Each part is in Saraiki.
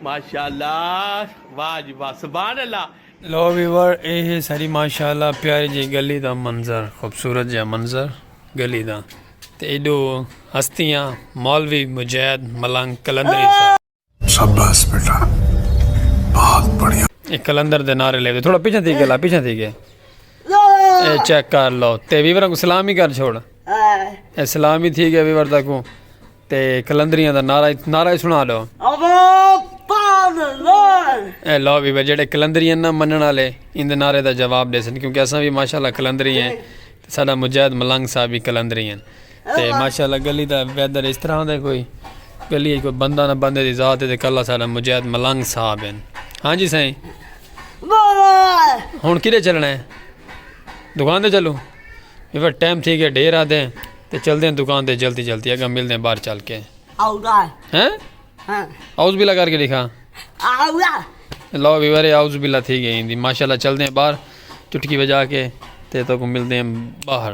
ماشاء اللہ واہ جی واہ سبحان اللہ لو ویور اے ہے ساری ماشاء اللہ پیارے جی گلی دا منظر خوبصورت جا منظر گلی دا تے ایڈو ہستیاں مولوی مجید ملنگ کلندری صاحب شاباس بیٹا بہت بڑھیا اے کلندر دے نعرے لے تھوڑا پیچھے تھی گلا پیچھے تھی گئے اے چیک کر لو تے ویور کو سلام ہی کر چھوڑ اے سلام ہی تھی گئے ویور دا کو تے کلندریاں دا نعرہ نعرہ سنا لو اے لو ویور جڑے کلندریاں نہ منن والے ان دے نعرے دا جواب دے سن کیونکہ اساں بھی ماشاءاللہ کلندری ہیں ساڈا مجاہد ملنگ صاحب بھی کلندری ہیں تے ماشاءاللہ گلی دا ویدر اس طرح دا کوئی گلی اچ کوئی بندہ نہ بندے دی ذات ہے تے کلہ ساڈا مجاہد ملنگ صاحب ہیں ہاں جی سائیں ہن کدھے چلنا ہے دکان دے چلو یہ ٹائم تھی گیا ڈھیر آدھے ہیں تے چل دیں دکان دے جلدی جلدی اگا مل دیں باہر چل کے ہیں اوز بلا کر کے لکھا لو بھی ورے اوز بلا تھی گئی ماشاءاللہ چل دیں باہر چٹکی بجا کے تے تو کو مل دیں باہر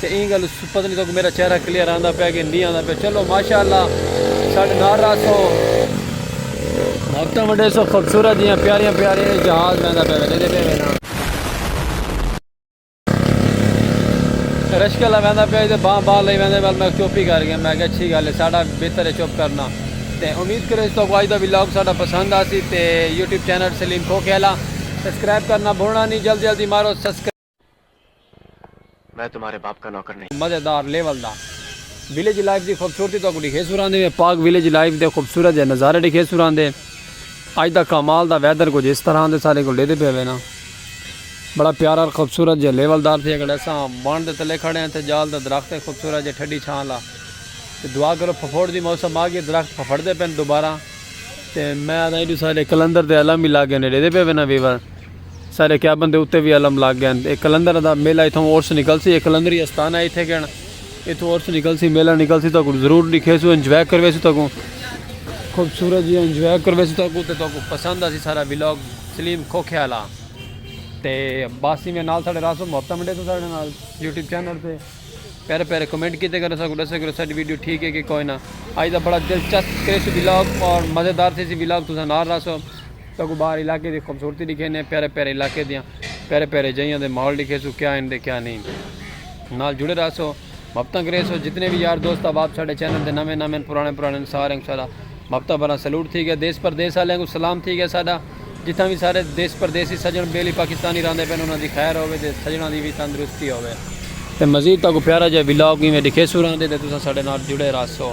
تے ایں گل پتہ نی تہاکوں میڈا چہرہ کلیئر آندا پیا کہ نی آندا پیا چلو ماشاء اللہ ساڈے نال رہسو۔ محبتاں ونڈیسو خوبصورت جیاں پیاریاں پیاریاں اے جہاز ویندا پیا وے ڈیندے پے وے نا۔ رشکلا ویندا پیا تے باں باں لئی ویندے ول میں چپ ہی کر گیا میں آکھیا اچھی گل اے ساڈا بہتر اے چپ کرنا تے امید کریو جو تہاکوں اج دا ولاگ ساڈا پسند آسی تے یوٹیوب چینل سلیم کھوکھے آلا سبسکرائب کرنا بھلنا نی جلدی جلدی مارو سبسکرائب۔ میں تمہارے باپ کا نوکر نہیں۔ مزیدار لیول دا ویلیج لائف دی خوبصورتی تہاکوں ڈکھے سراندے میں پاک ویلیج لائف دے خوبصورت جے نظارے ڈکھے سراندے اج دا کمال دا ویدر کچھ اس طرح دے سارے کول ڈیدے پے ہوے نا بڑا پیارا خوبصورت جے لیول دار تھے اگڑ اساں بن دے تلے کھڑے ہیں تھے جال دا درخت ہے خوبصورت جے ٹھڈی چھاں لا تے دعا کرو پھپھوڑ دی موسم آ گئی درخت پھپھڑ دے پن دوبارہ تے میں آدھا ایڈو سارے کلندر دے علم ہی لاگے نے ڈیدے پے ہوے نا ویور سارے کیابن دے اتے وی علم لگ گئن۔ اے قلندر دا میلہ اتھاؤں عرس نکلسی۔ اے قلندری استان ہے اتھے گئن۔ اتھوں عرس نکلسی میلہ نکلسی تہاکوں توں ضرور ڈیکھیسوں انجوائے کرویسوں تہاکوں خوبصورت جیاں انجوائے کرویسوں تہاکوں تے تہاکوں پسند آسی سارا ولاگ سلیم کھوکھے آلا تے باسی میں نال ساڑے راسوں محبت منڈے سوں ساڑے نال یوٹیوب چینل تے پیارے پیارے کمنٹ کیتے گئے ساکوں ڈسے گئے ساڑی ویڈیو ٹھیک ہے کہ کوئی نہ آج دا بڑا دلچسپ کریسوں ولاگ اور مزیدار تھیسی ولاگ تساں نال راسوں ساکوں باہر علاقے دی خوبصورتی ڈکھیندے پیارے پیارے علاقے دیاں پیارے پیارے جئیاں دے ماحول ڈکھیسوں کیا ہن دے کیا نئیں نال جڑے رہسو محبتاں کریسو جتنے وی یار دوست احباب ساڈے چینل دے نویں نویں پرانے پرانے سارے کو ساڈا محبتاں بھرا سلوٹ تھی گیا دیس پردیس والے کو سلام تھی گیا ساڈا جتھاں وی سارے دیس پردیسی سجن بیلی پاکستانی راندے پن انہاں دی خیر ہووے تے سجناں دی وی تندرستی ہووے تے مزید تاکوں پیارا جئے ولاگ ایویں ڈکھیسوں راندے تے تساں ساڈے نال جڑے رہسو۔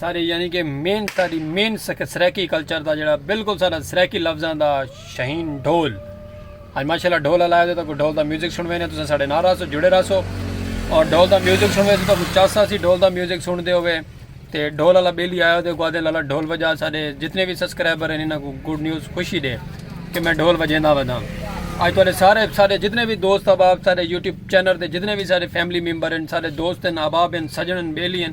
سارے یعنی کہ مین ساری مین سرائیکی کلچر دا جڑا بالکل سارا سرائیکی لفظاں دا شہین ڈھول اج ماشاءاللہ ڈھول لایا دے تو ڈھول دا میوزک سن وینے تساں ساڈے نال رہسو جڑے رہسو اور ڈھول دا میوزک سن ویسو تو چاسا سی ڈھول دا میوزک سن دے ہوے تے ڈھول والا بیلی آیا دے گوادے لالا ڈھول بجا سارے جتنے بھی سبسکرائبر ہیں انہاں کو گڈ نیوز خوشی دے کہ میں ڈھول بجیندا ودا اج تہاڈے سارے سارے جتنے بھی دوست احباب سارے یوٹیوب چینل دے جتنے بھی سارے فیملی ممبر ہیں سارے دوست ہیں احباب ہیں سجن ہیں بیلی ہیں